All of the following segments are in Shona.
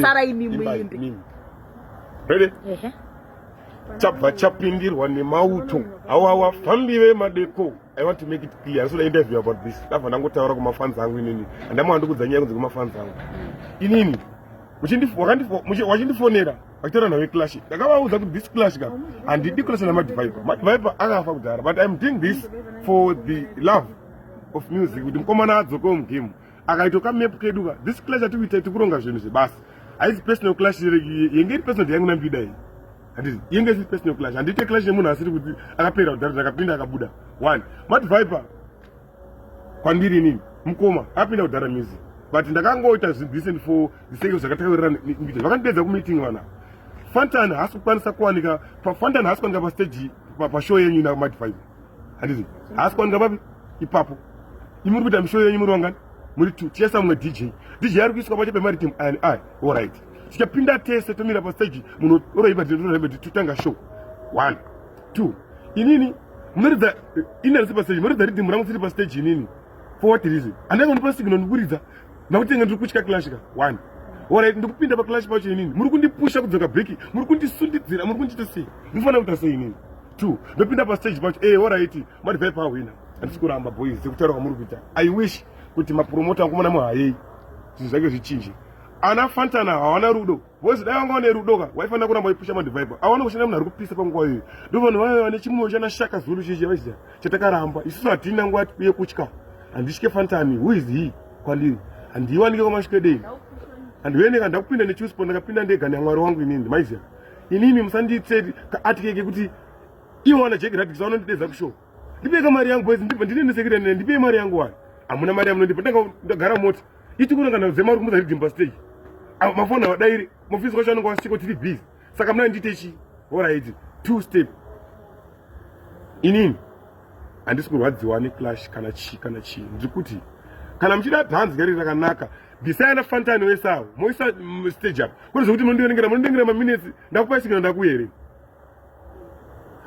Sarai imi muimbe. Ready? Ehe. Chabva chapindirwa nemauto. Awa wafambi vemadeko. I want to make it clear. Ndinoda interview about this. Ndabva ndangotaura kumafans angu inini. Andamwa ndikudza nyaya kunze kumafans angu. Inini wachindifonera achitaura nawe clash ndakavaudza kuti this clash ka handidi clash namadviper madviper akafa kudhara but im doing this for the love of music kuti mukomana adzokewo mugame akaito ka map kedu ka this clash ati kuita tikuronga zvinhu zvebasa haisi personal clash yenge iri personal yangu nambida iyi handizi yenge isiri personal clash handiite clash nemunhu asiri kuti akapera kudhara ndakapinda akabuda one mat viper kwandiri inini mukoma akapinda kudhara music but ndakangoita zvimbisent for the sake of zvakataurira mita vakandidedza kumeeting vana fantan haasi kukwanisa kuwanika fantan haasi kuwanika pastaji pashow yenyu ina mat viper handizi haasi kwanika papi ipapo imi muri kuita mishoyo yenyu muri vangani muri two tiyesa mumwe dj dj ari kuiswa pache pemaritim ani i allright tichapinda tese tomira pastage munhu oroipa tiroipa totanga show one two inini munoridza ini arisi pastage munoridza ridhimu rangu siri pastage inini for what reason andanga ndipa signal ndikuridza nakuti inge ndiri kutya clash ka one orit ndikupinda paclash pacho inini muri kundipusha kudzoka breki muri kundisundidzira muri kundiita sei ndinofanira kuita sei inini two ndopinda pastage pacho e eh, horaiti madivai pahwina handisi kuramba boys sekutaura kwamuri kuita i wish kuti mapromota akumona muhayei zvinhu zvake zvichinje ana fantana hawana rudo vozi dai vanga vane rudo ka waifanira kuramba waipusha madivaipa awana kushanda munhu ari kupisa panguva iyoyo ndo vanhu vaive vane chimwoyo chana shaka zulu chichi vaiziva chatakaramba isusu hatina nguva yekutya handitye fantani who is he kwandiri handiiwanike kwamasvikedei handiveneka ndakupinda nechuspon ndakapinda ndega neamwari wangu inini maiziva inini musandiitse kaatike kekuti ivo wana jeki radikisa vanondidedza kushow ndipeka mari yangu boys ndibva ndine nesekirene ndipei mari yangu wani hamuna mari yamunondipa ndanga ndagara mota ichikurangana dzemari kumudza ridimba stage mafoni avadairi mufisi kwacho anonga wasiko tiri busy saka muna ndiite chi horaiti two step inini handisi kurwadziwa neclash kana chii kana chii ndiri kuti kana muchida dhanzi gari rakanaka bvisai ana fantani wese awo moisa stage apa kune zvekuti mondiverengera mondiverengera maminetsi ndakupa isikina ndakuya here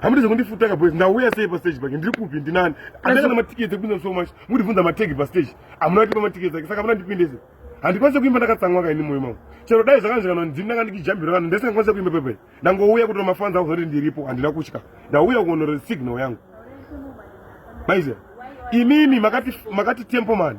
hamudi zvekundifutaka boys ndauya sei pastage pake ndiri kupi ndinani andanga na matiketi ekupinda so much mundibvunza mategi pastage hamuna kutipa matiketi ake saka hamuna ndipindese handikwanise kuimba ndakatsamwa kaini moyo mangu chero dai zvakanzvikana ndini ndanga ndikijambira vanhu ndisingakwanise kuimba pepe ndangouya kutora mafanzi ako zoti ndiripo handina kutya ndauya kuonora signal yangu maiziva imimi makati makati tempo mani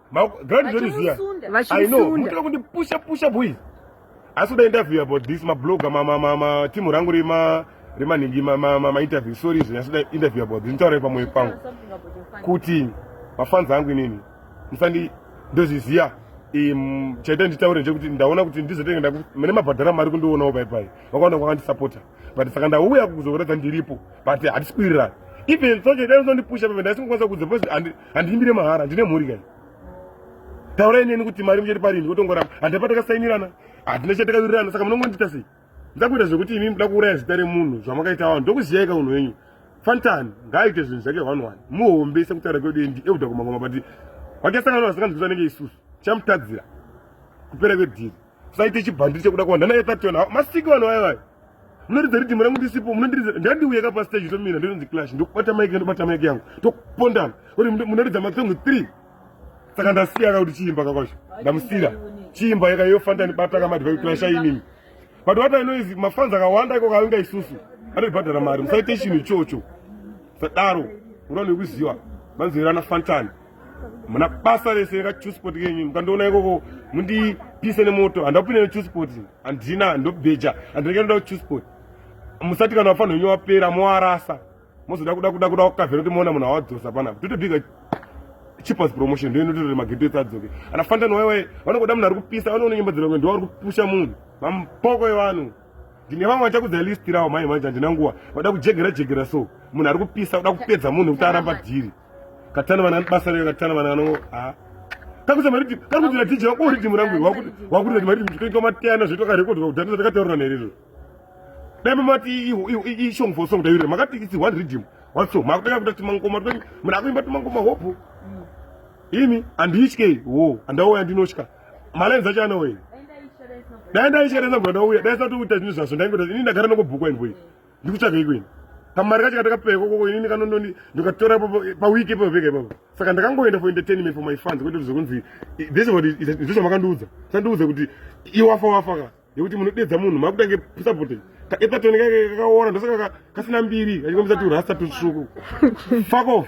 Grand Johnny Zia. I know. Mutaka kundi pusha pusha boys. Asi uda interview about this ma blogger ma ma ma, ma team rangu rima rima ningi ma ma, ma, ma interview sorry izvo asi uda interview about this. Nitaure pamwe pangu. Kuti mafans angu inini. Musandi ndozviziya um, chaita nditaure nje kuti ndaona kuti ndizotenge mune mabhadhara mari kundionawo pai pai vakaona kwakandisapota but saka ndauya kuzoratidza ndiripo but hatisi kuwirirana even sochaita ndondipusha pamene ndasingokwanisa kudza handiimbire mahara ndine mhuri kai taurai neni kuti mari muchati parini kutongoramba handina patakasainirana handina chatakawirirana saka munongondiita sei ndakuita zvekuti imi muda kuuraya zita remunhu zvamakaita vanhu ndokuziyaika unhu wenyu fantan ngaaite zvinhu zvake one one muhombe sekutaura kwedu endi ekuda kumangoma but wakasangana vasinganzwiswa nenge isusu chamutadzira kupera kwedhiri saite chibhandiri chekuda kuwanda naye tationa ah, masiki vanhu vaye vaye munoridza ridhimu rangu ndisipo munondiridza ndandiuye ka pastage tomira ndinonzi clash ndokubata maiki ndobata maiki yangu tokupondana kuti munoridza masongo three saka ndasiyaka kuti chiimba kakwacho ndamusira chiimba yaka yofanda ndibata kamadhivai clash ainini but what i know is mafanzi akawanda iko kavinga isusu anobhadhara mari musaite chinhu ichocho sadaro unoda nekuziva manzwira ana fantani muna basa rese rekachusport kenyu mukandiona ikoko mundipise nemoto handakupinda nechusport handina handobheja handinenge ndoda kuchusport musati kana vafanira wenyu wapera moarasa mozoda kuda kuda kuda kukavhera kuti moona munhu awadzosa panapa totobika cheapest promotion ndio inototora mageto ese adzoke ana fantani waiwai vanongoda munhu ari kupisa vanoona nyimbo dziromwe ndo vari kupusha munhu mampoko evanhu ndine vamwe vachakudza list rawo mhai manje handina nguva vada kujegera jegera so munhu ari kupisa kuda kupedza munhu kuti aramba dhiri katana vana basa rega katana vana vano ha kakuza mari ti kari kuti ratija wako uri timu rangu wakuti wakuti kuti mari tikaita matiyana zvedu ka record kuti data takataura nere ro dai mama ti i song for song dai makati it's one rhythm one song makutaka kuti timango koma kuti mara kuimba timango ma hope mm. imi andishke wo andawo yandinoshka malenza acha anowe dai ndaichera nezabva ndauya dai sati uita zvinhu zvaso ndaingoda ini ndagara nokubhukwa invoice ndikutsvaga iko ini kamari kacho katakapewa koko inini kanondoni ndikatora paweek ipapo pega ipapo saka ndakangoenda for entertainment for my fans kwete kuti zvekunzi this what ndizvo makandiudza sandiudza kuti iwafa wafa ka yekuti munodedza munhu makutange supporting kaepatoni kake kakaora ndosaka kasina mbiri kachikombisa turasta tutsvuku fuck off